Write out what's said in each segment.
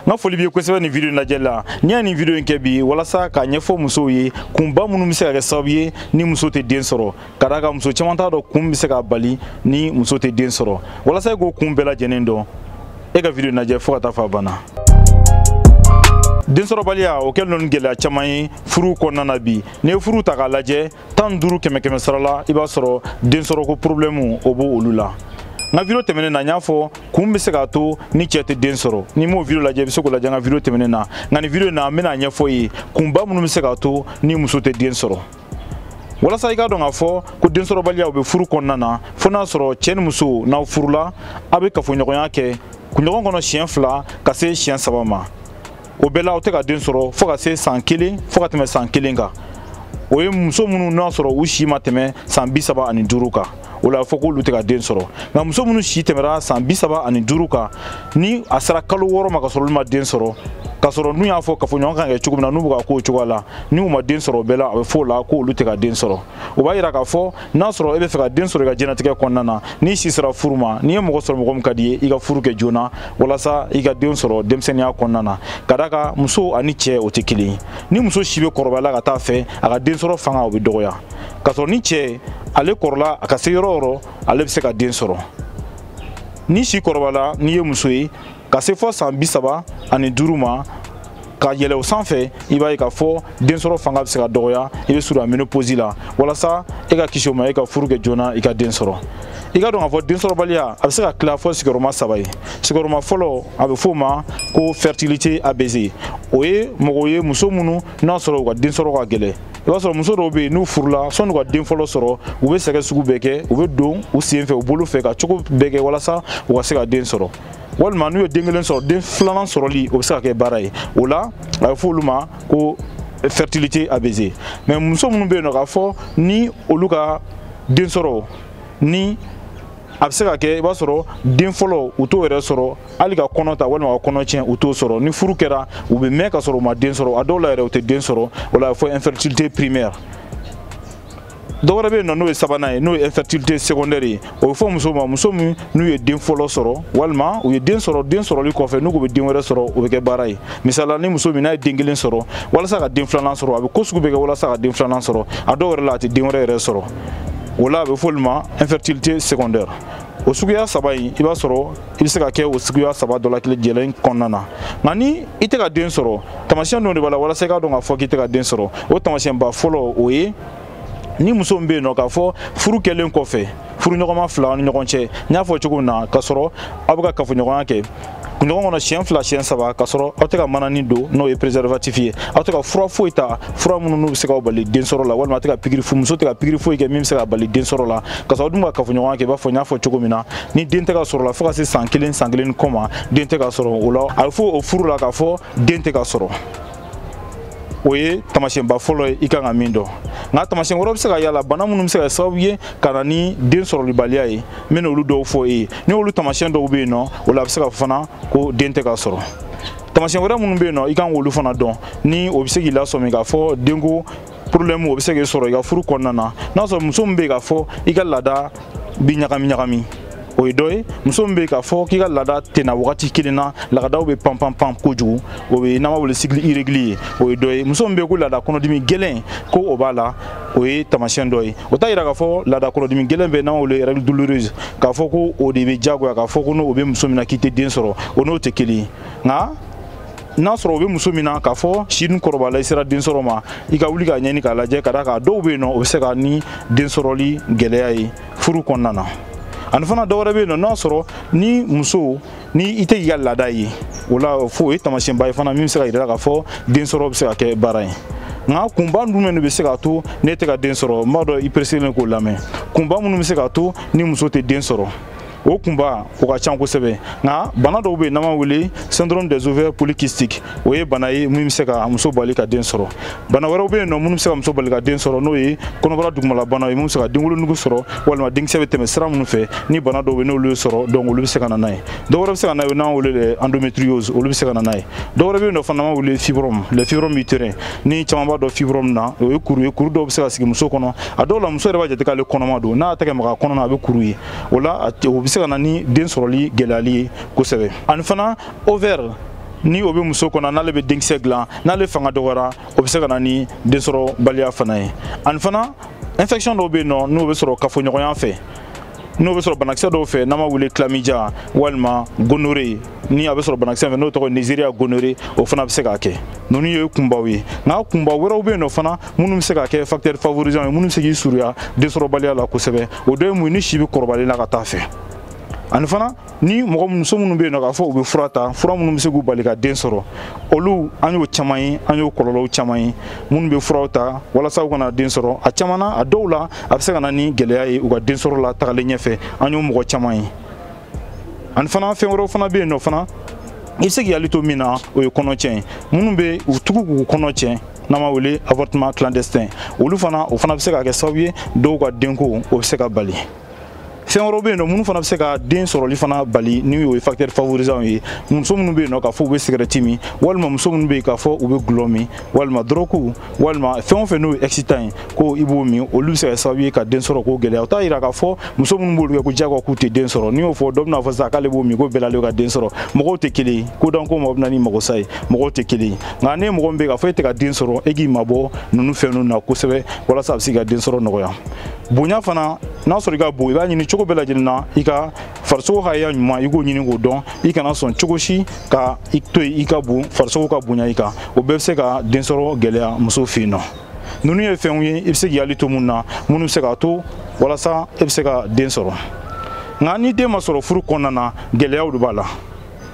n ka foli b'i ye kosɛbɛ nin video lajɛli la ne ye nin video in kɛ bi walasa k'a ɲɛfɔ musow ye kunba minnu bɛ se ka kɛ sababu ye ni muso tɛ den sɔrɔ ka d'a kan muso caman t'a dɔn kun bɛ se k'a bali ni muso tɛ den sɔrɔ walasa i k'o kun bɛɛ lajɛlen dɔn e ka video in lajɛ fo ka taa fo a ban na densɔrɔbaliya o kɛlen don ni gɛlɛya caman ye furuw kɔnɔna na bi n'i ye furuw ta k'a lajɛ tan duuru kɛmɛ kɛmɛ sara la i b'a sɔrɔ densɔrɔko problème o b'olu la n ka video tɛmɛnen na n y'a fɔ kun bɛ se k'a to ni cɛ tɛ den sɔrɔ n'i m'o video lajɛ i bɛ se k'o lajɛ n ka video tɛmɛnen na nka nin video in na n bɛn'a ɲɛfɔ i ye kunba minnu bɛ se k'a to ni muso tɛ den sɔrɔ walasa i k'a dɔn k'a fɔ ko densɔrɔbaliya o bɛ furu kɔnɔna na fo n'a sɔrɔ cɛ ni muso n'aw furula aw bɛ kafoɲɔgɔnya kɛ kunɲɔgɔn kɔnɔ siɲɛ fila ka se siɲɛ saba ma o bɛɛ la o tɛ ka den sɔrɔ fo ka se san kelen fo ka tɛmɛ san kelen kan o ye muso minnu n'a sɔrɔ u si ma tɛmɛ san bi saba ani duuru kan o la a bɛ fɔ k'olu tɛ ka den sɔrɔ nka muso minnu si tɛmɛra san bi saba ani duuru kan ni a sera kalo wɔɔrɔ ma ka sɔrɔ olu ma den sɔrɔ k'a sɔrɔ n tun y'a fɔ kafoɲɔgɔn ka kɛ cogo min na n'u bɛ k'a k'o cogoya la n'u ma den sɔrɔ o bɛɛ la a bɛ fɔ o la k'olu tɛ ka den sɔrɔ o b'a yira k'a fɔ n'a sɔrɔ i b'a fɛ ka den sɔrɔ i ka diɲɛnatigɛ kɔnɔna na n'i si sera furu ma n'i ye mɔgɔ sɔrɔ mɔgɔ min ka di i ye i ka furu kɛ joona walasa i ka den sɔrɔ denmisɛnninya kɔnɔna na ka d'a kan muso ani cɛ o tɛ kelen ye ni muso si bɛ kɔrɔbaya la ka taa a fɛ a ka den sɔrɔ fanga o bɛ dɔgɔya k'a sɔrɔ ni cɛ ale kɔrɔla a ka se yɔrɔ o yɔrɔ ale bɛ se ka den sɔrɔ n'i si kɔrɔbayala n'i ye muso ye ka se fo san bi saba ani duuru ma ka yɛlɛ o sanfɛ i b'a ye k'a fɔ densɔrɔ fanga bɛ se ka dɔgɔya i bɛ surunya ménopause la walasa e ka kisi o ma e ka furu kɛ joona i ka den sɔrɔ i ka dɔn k'a fɔ densɔrɔbaliya a bɛ se ka tila fo sigiyɔrɔma saba ye sigiyɔrɔma fɔlɔ a bɛ f'o ma ko fertilité abaissée o ye mɔgɔw ye muso minnu n'a sɔrɔ u ka densɔrɔ ka gɛlɛn i b'a sɔrɔ muso dɔw bɛ yen n'u furula sani u ka den fɔlɔ sɔrɔ u bɛ sɛgɛn sugu bɛɛ kɛ u bɛ don u sen fɛ u bolo fɛ ka cogo bɛɛ kɛ walasa u ka se ka den sɔrɔ walima n'u ye den kelen sɔrɔ den filanan sɔrɔli o bɛ se ka kɛ baara ye o la a bɛ fɔ olu ma ko fertilité abaissée mais muso minnu bɛ yen nɔ k'a fɔ ni olu ka den sɔrɔ ni a bɛ se ka kɛ i b'a sɔrɔ den fɔlɔ u t'o yɛrɛ sɔrɔ hali ka kɔnɔ ta walima ka kɔnɔ tiɲɛ u t'o sɔrɔ ni furu kɛra u bɛ mɛn ka sɔrɔ u ma den sɔrɔ a dɔw la yɛrɛ u tɛ den sɔrɔ o la a bɛ fɔ infertilité primaire dɔ wɛrɛ bɛ yen nɔ n'o ye sabanan ye n'o ye infertilité secondaire ye o bɛ fɔ muso ma muso min n'u ye den fɔlɔ sɔrɔ walima u ye den sɔrɔ den sɔrɔli kɔfɛ n'u ko u bɛ den wɛrɛ sɔrɔ o bɛ kɛ baara ye misala ni muso min n'a ye den kelen sɔrɔ walasa ka den filanan sɔrɔ a bɛ ko sugu bɛɛ kɛ walasa ka den filanan sɔrɔ a dɔw yɛrɛ la a tɛ den wɛrɛ yɛrɛ sɔrɔ o la a bɛ fɔ olu ma infertilité secondaire o suguya saba in i b'a sɔrɔ i bɛ se ka kɛ o suguya saba dɔ la tile jɛlen kɔnɔna na nka ni i tɛ ka den sɔrɔ tamasiyɛn dɔ de b'a la walasa i k'a dɔn k'a fɔ k'i tɛ ka den sɔrɔ o tamasiyɛnba fɔlɔ o ye ni muso min bɛ yen nɔ k'a fɔ furu kɛlen kɔfɛ furuɲɔgɔnma fila ni ɲɔgɔn cɛ n y'a fɔ cogo min na k'a sɔrɔ aw bɛ ka kafoɲɔgɔnya kɛ kunɲɔgɔn kɔnɔ siɲɛ fila siɲɛ saba k'a sɔrɔ aw tɛ ka manani don n'o ye préservatif ye aw tɛ ka fura foyi ta fura minnu n'u bɛ se k'aw bali densɔrɔ la walima a tɛ ka pikiri muso tɛ ka pikiri foyi kɛ min bɛ se k'a bali densɔrɔ la k'a sɔrɔ aw dun ka kafoɲɔgɔnya kɛ i b'a fɔ n y'a fɔ cogo min na ni den tɛ ka sɔrɔ la fo ka se san kelen san kelen ni kɔ ma den tɛ ka sɔrɔ o la a bɛ fɔ o furu la k'a fɔ den tɛ ka sɔrɔ o ye tamasiyɛnba fɔlɔ ye i kan ka min dɔn nka tamasiyɛn wɛrɛ bɛ se ka y'a la bana minnu bɛ se ka sababu ye ka na ni densɔrɔbaliya ye n bɛna olu dɔw fɔ e ye ni olu tamasiyɛn dɔw bɛ yen nɔ o la a bɛ se ka fana ko den tɛ ka sɔrɔ tamasiyɛn wɛrɛ minnu bɛ yen nɔ i kan k'olu fana dɔn ni o bɛ se k'i lasɔmi k'a fɔ denko problème o bɛ se k'i sɔrɔ i ka furu kɔnɔna na n'a sɔrɔ muso min bɛ yen k'a fɔ i ka laada bi ɲagami ɲagami o ye dɔ ye muso min bɛ yen k'a fɔ k'i ka laada tɛ na wagati kelen na lagadaw bɛ pan pan pan kojugu o bɛ n'an b'a wele cycle irrégulier o ye dɔ ye muso min bɛ yen ko laada kɔnɔdimi gɛlɛn ko o b'a la o ye tamasiyɛn dɔ ye o t'a yira k'a fɔ laada kɔnɔdimi gɛlɛn bɛ n'an b'a wele règle douloureuse k'a fɔ ko o de bɛ diyagoya k'a fɔ ko n'o bɛ muso min na k'i tɛ den sɔrɔ o n'o tɛ kelen ye nka n'a sɔrɔ o bɛ muso min na k'a fɔ si dun kɔrɔbala i sera den sɔrɔ ma i ka wuli k'a ɲɛɲini k'a lajɛ ka d'a kan dɔw bɛ yen nɔ o bɛ se ka na ni den sɔrɔli gɛlɛya ye furu kɔnɔna na ani fana dɔ wɛrɛ bɛ yen nɔ n'a sɔrɔ ni muso ni i tɛ k'i ka laada ye o la fo o ye taamasiyɛnba ye fana min bɛ se k'a yira k'a fɔ den sɔrɔ bɛ se ka kɛ baara ye nka kunba minnu de bɛ se k'a to n'i tɛ ka den sɔrɔ n b'a dɔn i pereselen k'o lamɛn kunba minnu bɛ se k'a to ni muso tɛ den sɔrɔ o kunba o ka can kosɛbɛ nka bana dɔw bɛ yen n'an b'a wele syndrome des ovaires polykystiques o ye bana ye min bɛ se ka muso bali ka den sɔrɔ bana wɛrɛw bɛ yen nɔ minnu bɛ se ka muso bali ka den sɔrɔ n'o ye kɔnɔbara dugumalabanaw ye minnu bɛ se ka denwolonugu sɔrɔ walima denkisɛ bɛ tɛmɛ sira minnu fɛ ni bana dɔw bɛ yen n'olu y'i sɔrɔ donc olu bɛ se ka na n'a ye dɔ wɛrɛ bɛ se ka n'a ye n'an b'a wele l'endométriose olu bɛ se ka na n'a ye dɔ wɛrɛ bɛ yen nɔ fana n'an b'a wele fibrome le fibrome utérin ni caman b'a dɔn fibrome na o ye kuru ye kuru dɔw bɛ se ka sigi muso kɔnɔ a dɔw la muso yɛrɛ b'a jate k'ale kɔnɔma don n'a y'a tɛgɛ maga a kɔnɔ na a bɛ kuru ye o la o bɛ se ka na ni den sɔrɔli gɛlɛyali ye kosɛbɛ ani fana ovaire ni o bɛ muso kɔnɔ n'ale bɛ denkisɛ dilan n'ale fanga dɔgɔyara o bɛ se ka na ni densɔrɔbaliya fana ye ani fana infection dɔw bɛ yen nɔ n'o bɛ sɔrɔ kafoɲɔgɔnya fɛ n'o bɛ sɔrɔ banakisɛ dɔw fɛ n'an b'a wele chlamydia walima gonorrhée ni a bɛ sɔrɔ banakisɛ fɛ n'o tɔgɔ neisseria gonorrhoeae o fana bɛ se k'a kɛ ninnu ye kunbaw ye nka kunba wɛrɛw bɛ yen nɔ fana minnu bɛ se ka kɛ facteur favorisant ye minnu bɛ se k'i surunya densɔrɔbaliya la kosɛbɛ o dɔ ye mun ye ni si bɛ kɔrɔbali la ka taa fɛ ani fana ni mɔgɔ muso minnu bɛ yen nɔ k'a fɔ u bɛ fura ta fura minnu bɛ se k'u bali ka den sɔrɔ olu an y'o caman ye an y'o kɔlɔlɔw caman ye minnu bɛ furaw ta walasa u kana den sɔrɔ a caman na a dɔw la a bɛ se ka na ni gɛlɛya ye u ka den sɔrɔ la tagalen ɲɛfɛ an y'o mɔgɔ caman ye ani fana fɛn wɛrɛw fana bɛ yen nɔ fana i bɛ se k'i hakili to min na o ye kɔnɔ tiɲɛ ye minnu bɛ u tugu k'u kɔnɔ tiɲɛ n'an b'a wele avortement clandestin olu fana o fana bɛ se ka kɛ sababu ye dɔw ka denko o bɛ se ka bali fɛn wɛrɛw bɛ yen nɔ minnu fana bɛ se ka den sɔrɔli fana bali ni o ye facteur favorisant ye muso minnu bɛ yen nɔ k'a fɔ u bɛ sigɛrɛti min walima muso minnu bɛ yen k'a fɔ u bɛ gulɔ min walima dɔrɔku walima fɛn o fɛn n'o ye excitant ye ko i b'o min olu bɛ se ka sababu ye ka den sɔrɔ k'o gɛlɛya o t'a jira k'a fɔ muso minnu b'olu kɛ ko diyagoya k'u tɛ den sɔrɔ n'i y'o fɔ dɔ bɛna fɔ sisan k'ale b'o min ko bɛlalen ka den sɔrɔ mɔgɔw tɛ kelen ye ko dan ko mɔgɔ bɛna ni magosa ye mɔgɔw tɛ kelen ye nka n'e mɔgɔ min bɛ k'a fɔ e tɛ ka den sɔrɔ e k'i mabɔ ninnu fɛn ninnu na kosɛbɛ walasa a bɛ se ka den sɔrɔ nɔgɔya bonya fana n'a sɔrɔ i ka bon i b'a ɲini cogo bɛɛ lajɛlen na i ka farisogo hakɛya ɲuman i k'o ɲini k'o dɔn i kana sɔn cogo si ka i to yen i ka bon farisogo ka bonya i kan o bɛɛ bɛ se ka densɔrɔ gɛlɛya muso fɛ yen nɔ ninnu ye fɛnw ye i bɛ se k'i hakili to minnu na minnu bɛ se k'a to walasa e bɛ se ka den sɔrɔ nka ni den ma sɔrɔ furu kɔnɔna na gɛlɛyaw de b'a la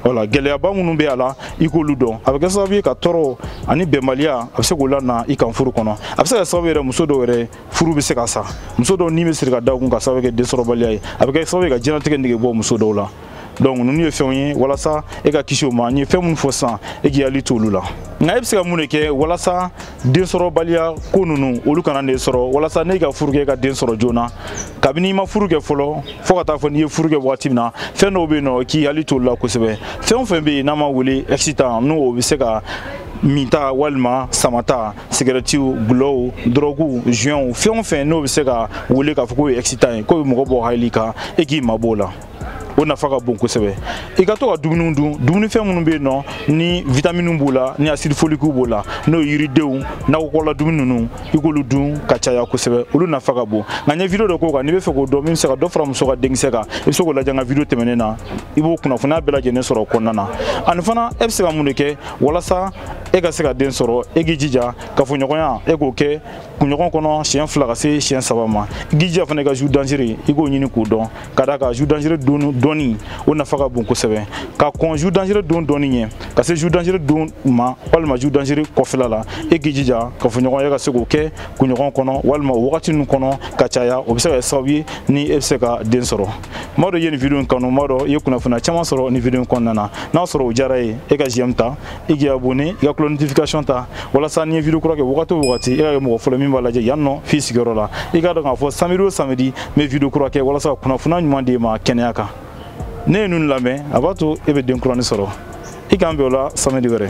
wala gɛlɛyaba minnu bɛ a la i k'olu dɔn a bɛ kɛ sababu ye ka tɔɔrɔ ani bɛnbaliya a bɛ se k'o lana i kan furu kɔnɔ a bɛ se ka sababu yɛrɛ muso dɔw yɛrɛ furu bɛ se ka sa muso dɔw ni bɛ siri ka da u kun k'a sababu kɛ densɔrɔbaliya ye a bɛ kɛ sababu ye ka diɲɛnatigɛ nege bɔ muso dɔw la donc ninnu ye fɛnw ye walasa e ka kisi o ma n ye fɛn minnu fɔ sisan e k'i hakili to olu la nka e bɛ se ka mun de kɛ walasa densɔrɔbaliya ko ninnu olu kana ne sɔrɔ walasa ne ka furu kɛ ka den sɔrɔ joona kabini i ma furu kɛ fɔlɔ fo ka taa fɔ n'i ye furu kɛ waati min na fɛn dɔw bɛ yen nɔ k'i hakili to olu la kosɛbɛ fɛn o fɛn bɛ yen n'an b'a wele excitant n'o o bɛ se ka minta walima samata sigarɛtiw gulɔw dɔrɔguw zuyɔnw fɛn o fɛn n'o bɛ se ka wele k'a fɔ k'o ye excitant ye k'o bɛ mɔgɔ bɔ hakili kan e k'i mabɔ o la o nafa ka bon kosɛbɛ i ka to ka dumuniw dun dumunifɛn minnu bɛ yen nɔ ni vitaminiw b'o la ni asidi folikiw b'o la n'o ye yiridenw nakɔkɔla dumuni ninnu i k'olu dun ka caya kosɛbɛ olu nafa ka bon nka n ye video dɔ k'o kan n'i b'a fɛ k'o dɔn min bɛ se ka dɔ fara muso ka denkisɛ kan i bɛ se k'o lajɛ n ka video tɛmɛnen na i b'o kunnafoniya bɛɛ lajɛlen sɔrɔ o kɔnɔna na ani fana e bɛ se ka mun de kɛ walasa e ka se ka den sɔrɔ e k'i jija kafoɲɔgɔnya e k'o kɛ kunɲɔgɔn kɔnɔ siɲɛ fila ka se siɲɛ saba ma i k'i jija fana i ka jour dangereux i k'o ɲini k'o dɔn ka d'a kan jour dangereux don dɔnni o nafa ka bon kosɛbɛ ka kɔn jour dangereux don dɔnni ɲɛ ka se jour dangereux don ma walima jour dangereux kɔfɛla la e k'i jija kafoɲɔgɔnya ka se k'o kɛ kunɲɔgɔn kɔnɔ walima o wagati ninnu kɔnɔ ka caya o bɛ se ka kɛ sababu ye ni e bɛ se ka den sɔrɔ n b'a dɔn i ye nin video in kanu n b'a dɔn i ye kunnafoniya caman sɔrɔ nin video in kɔnɔna na n'a sɔrɔ o diyara i ye e ka j'aime ta i k'i abonné i ka cloche notification ta walasa ni n ye video kura kɛ wagati o wagati i ka kɛ mɔgɔ fɔlɔ min b'a lajɛ yan nɔ f'i sigiyɔrɔ la i k'a dɔn k'a fɔ samedi o samedi n bɛ video kura kɛ walasa ka kunnafoniya ɲuman d'e ma kɛnɛya kan n'e ye ninnu lamɛn a b'a to e bɛ den kurani sɔrɔ i k'an bɛn o la samedi wɛrɛ